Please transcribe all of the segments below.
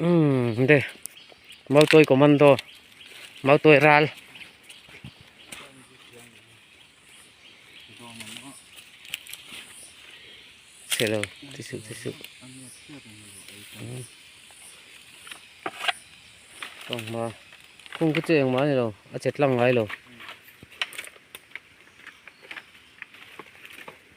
Umm de mau tawi commando mau tawi ral hello ti su ti su tong ma kung ku cheng ma ni lo a chet lang ngai lo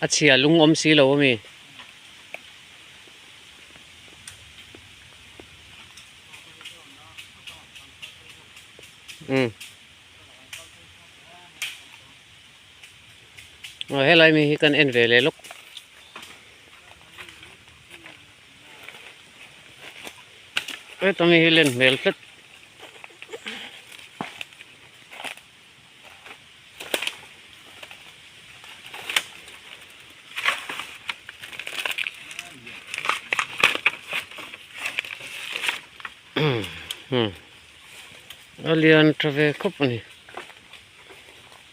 a chhia lung awm si lo ami um Aw helai mi hi kan en ve leh lawk. Heta mi hi len hmel tlat. Hmm. Alian tha ve khawp a ni.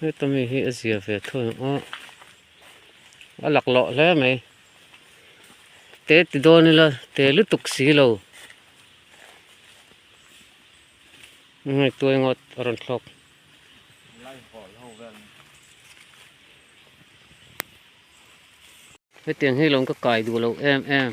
Heta mi hi a zia ve thun ang a, a lak loh hle mai. Te ti dawn ila te lutuk si lo. Hei tuai ngawt a rawn thlawk. Hetiang hi lo ka kai duh lo em em.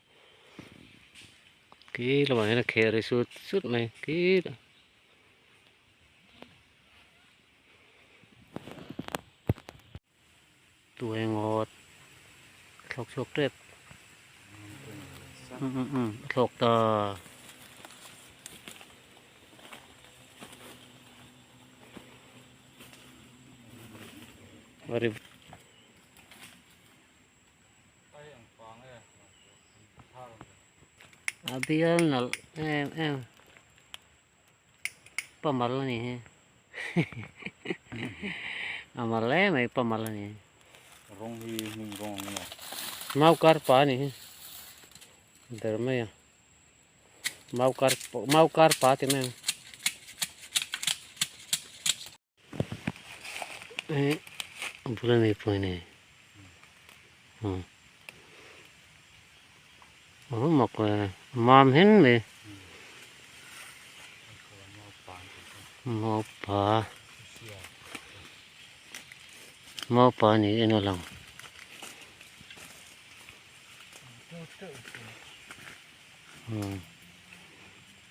khi lamah hian a khe a ri sut sut mai khi a. Tuai ngawt thlawk chhuak tep um um um thlawk ta a ri A bial nalh em em pamal a ni hi a mal hle mai pamal a ni hi rawng hi hnim rawng ang emaw mau kar pa a ni hi ber mai a mau kar mau kar pa ti mai ang Eh, bula nei pawh ni. Hmm. Oh, mak le. Mam hin mi. Mau pa. Mau pa ni ina lang. Hmm.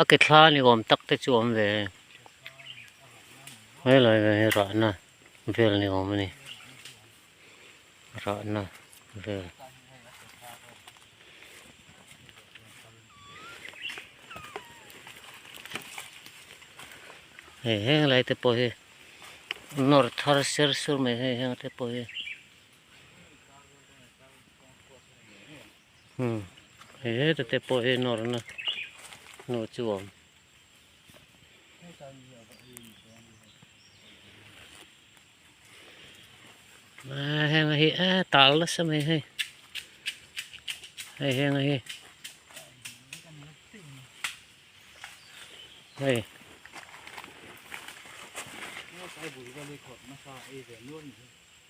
A ke thla ni awm tak te chu awm ve e. Helai ve hi rahna vel ni awm a ni. Rahna vel. Hei heng lai te pawh hi nawr thar ser sur mai hei heng te pawh hi. Hmm he hetute pawh hi nawrna hnu chu awm. Ah, heng hi a ah, tal la sa mai hei. Hei heng hi. Hei. Hei.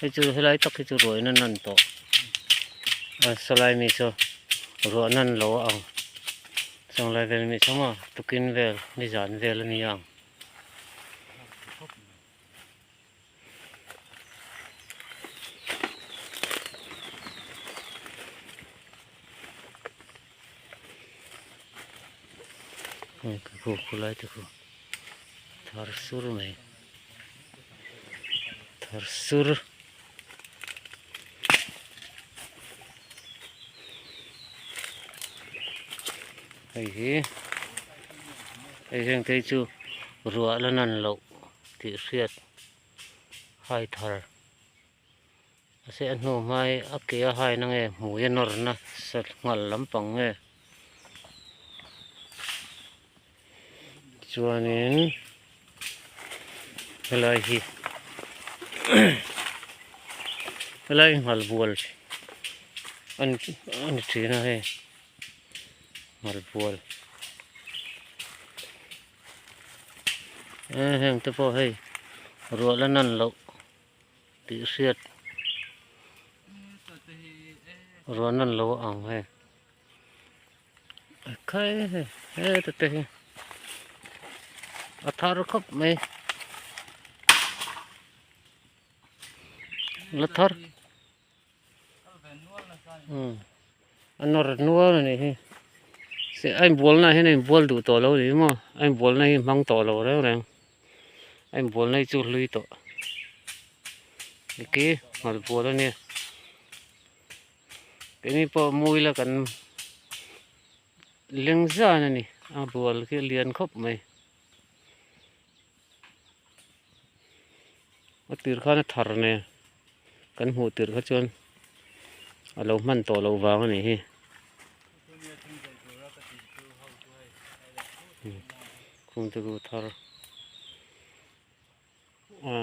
Hei chu helai tak hi chu ruahina nan tawh a salai mi chu ruah nan lo a ang changlai vel mi thanga tukin vel nizan vel a ni ang hei ka hmuh khawlai te pawh thar sur mai thar sur. hei hi hei heng te hi chu ruah la nan loh tih hriat hai thar. Mahse a hnu hmai a ke a haina nge hmui a nawrna sa nghal lampang nge? Tichuanin helai hi helai nghal bual a ni a ni thin a hei nghal bual aa hengte pawh hei ruah la nan loh. tih hriat ruan an lo ang he khai he he ta te hi a thar khawp mai la thar a nawr nual a nih hi se a inbualna ah hian a inbual duh tawh lo ni hi maw a inbualna hi hmang tawh lo reng reng a inbualna hi chu hlui tawh niki nghalhbual a nia keng hi pawh mui la kan leng zan a ni a bual khi a lian khawp mai. a tir khana thar nen kan hmuh tir kha chuan a lo hman tawh loh vang a nih hi khum te chu a thar a.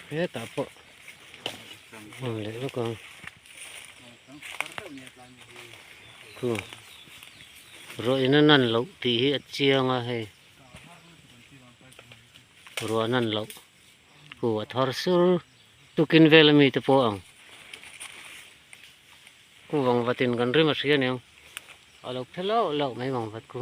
hetah pawh hman leh vek ang khu ruahina nan loh tih hi a chiang a hei ruahna an loh. Pu a thar sur, tukin vel ami te pawh ang ku vangvat in kan rim a hria ning, a lo phe lauh lauh mai vangvat ku.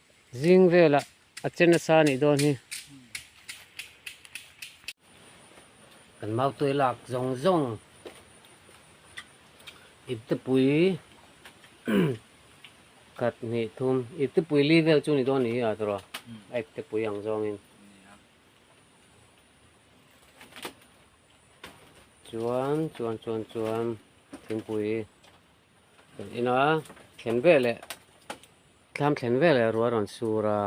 Zing vela a chen a sa nih dawn hi. Kan mau tuai lak zawng zawng. Iptipui khat hnih thum. Iptipui li vel chu ni dawn ni hi a tawrh a. A iptipui ang zawng in. Chuan chuan chuan chuan thingpui. Kan ina thlen ve leh tlam thlen ve leh rual rawn sur a.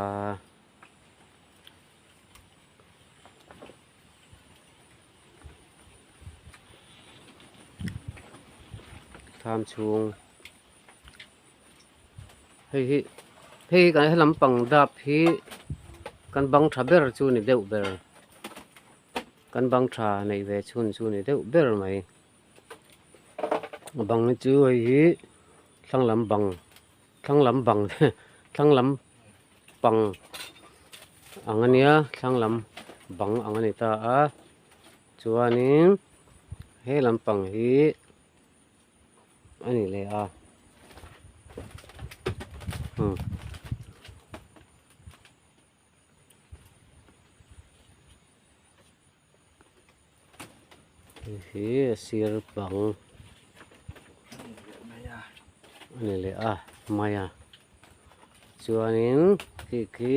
Tham chung. Hei hi hei kan he lampang dap hi kan bang tha ber chu ni deuh ber. Kan bang tha nei ve chhun chu ni deuh ber mai. bang hi chu hei hi thlang lam bang thlang lam bang thlang lam pang ang a nia thlang lam bang ang a ni ta a chuanin he lam pang hi a ni leh a hmm. hei hi a sir pang a ni leh a hmai a chuanin khi khi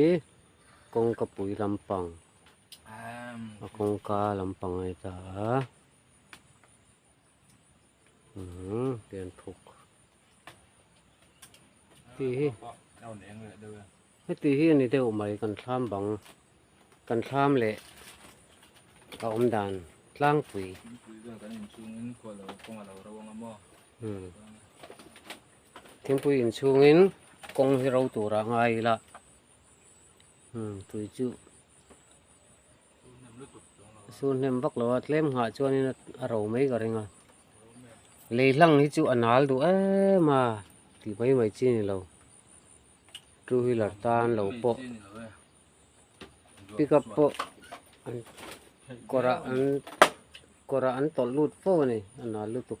kawngkapui lampang a kawngka lampang a ni ta a umm lian phuk. ti hi heti hi ni deuh mai kan thlam bang kan thlam leh ka awm dan tlangpui thingpui in chungin kawng hi ro tura ngai ila tui chu A sur hnem vak lo a, tlem nghah chuanin a ro mai ka ring a. Lei hlang hi chu a nal duh em a, ti mai mai chi ni lo. Two wheeler tan lo pawh, pick up pawh kawrah an kawrah an tawlh lut fo a ni, a nal lutuk.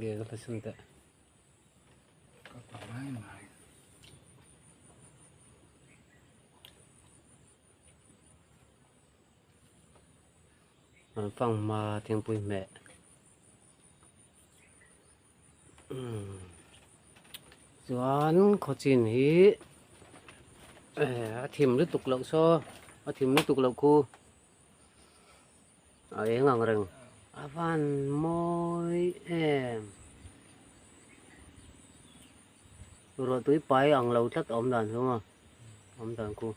Gel ka hresin teh. Ka pa mai mai. An phang ma thingpui meh. Hmm. Chuan khawchin hi eh, a thim lutuk loh saw a thim lutuk loh khu A eng ang reng. A van mawi em. Ruah tui pai ang lo tlat a awm dan hlawm a. Awm dan ku.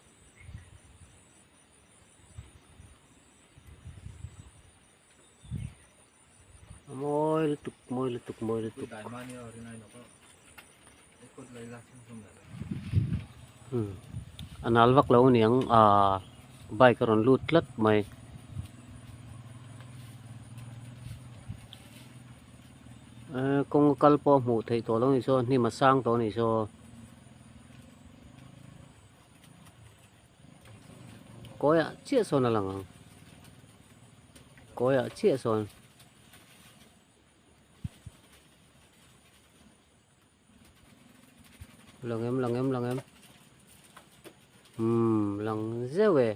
mawi lutuk mawi lutuk mawi lutuk hmm a nal vak lo aniang a bike a rawn lut tlat mai eh kawng a kal pawh a hmuh theih tawh lo ni chaw hnim a sang tawh a ni chaw. Kawia chiah sawn a lang ang. Kawia chiah sawn. Lang em, lang em, lang em. Hmm, lang zeo e.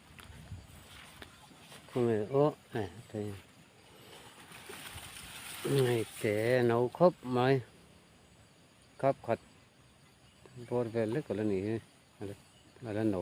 Kawngei awh eh kei ngei te no khawp mai khap khat bor vel lek ala ni hi ala no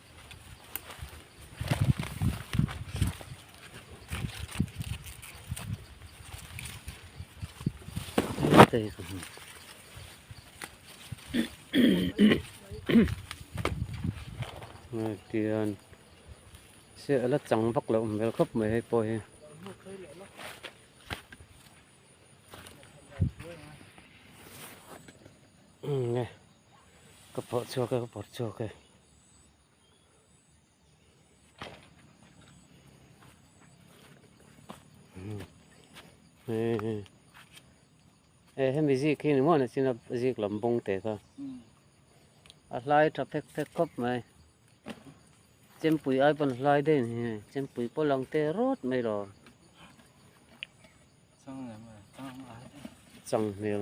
tian se ala chang vak lo awm hmel khawp mai hei pawh hi ka phawh chhuak e ka phawt chhuak e. ê ê hemi zik khi ni muan a chin a zik lam bawng te kha a hlai tha phek phek khawp mai chempui ai pan hlai daih ni hei chempui pawh lang te rawt mai lo chang hmel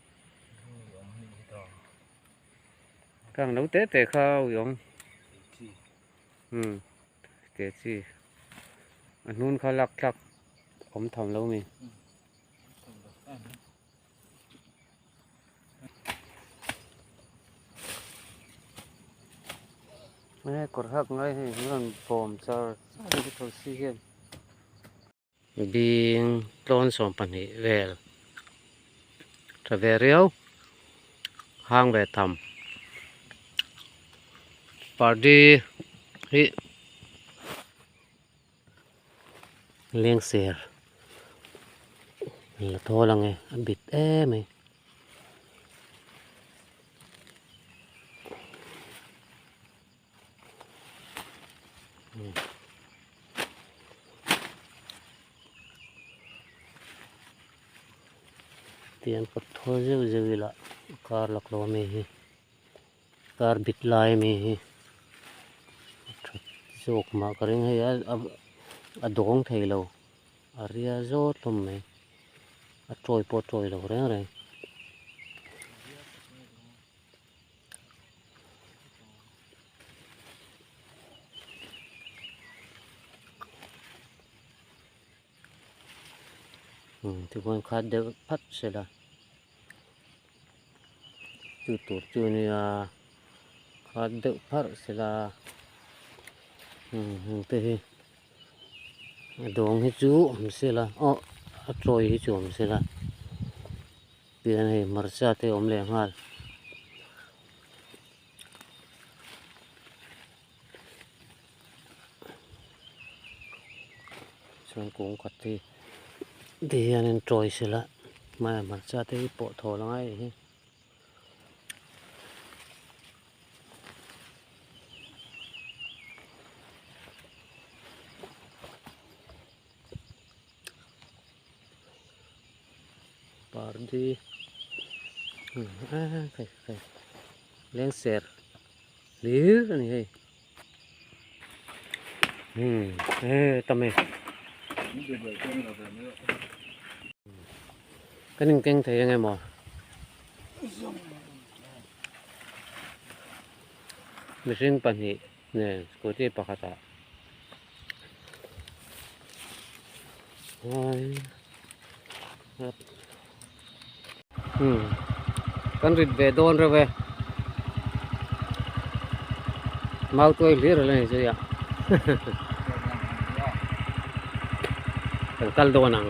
Ka ang lo teh teh kha Wiawng Kehchi a hnun kha lak thlak awm tham lo mi. Kawr hak ngai hi a rawn bawm char. Bing tlawn sawm pahnih vel tha ve riau, hang ve tham. Party hi leng ser la thawl ang e, a bit em mai. tiang ka thaw zeuh zeuh ila kar lak lo ami hi kar bit lai ami hi that zawk mah ka ring hei a a dawng thei lo a ria zawt hlawm mai a tawi pawh a tawi lo reng reng. chu hmun kha deuh hap se la chu tur chu nia kha deuh harh se la hengte hi a dawng hi chu awm se la awh a chawi hi chu awm se la. Pian hei hmarcha te awm leh nghal. Chuan kung khat te te hian in tawi se la. Maya hmarcha te hi pawh thaw la ngai hi. pardi ah kai kai leng ser lir ani hei hmm e tame kan in keng thei ang emaw mihring pahnih Nen scooty pakhata Hâwii Hâwp Hum Kan rit ve dawn reuh e Mau tuai hlir a la ni zui a Kan kal dawn ang.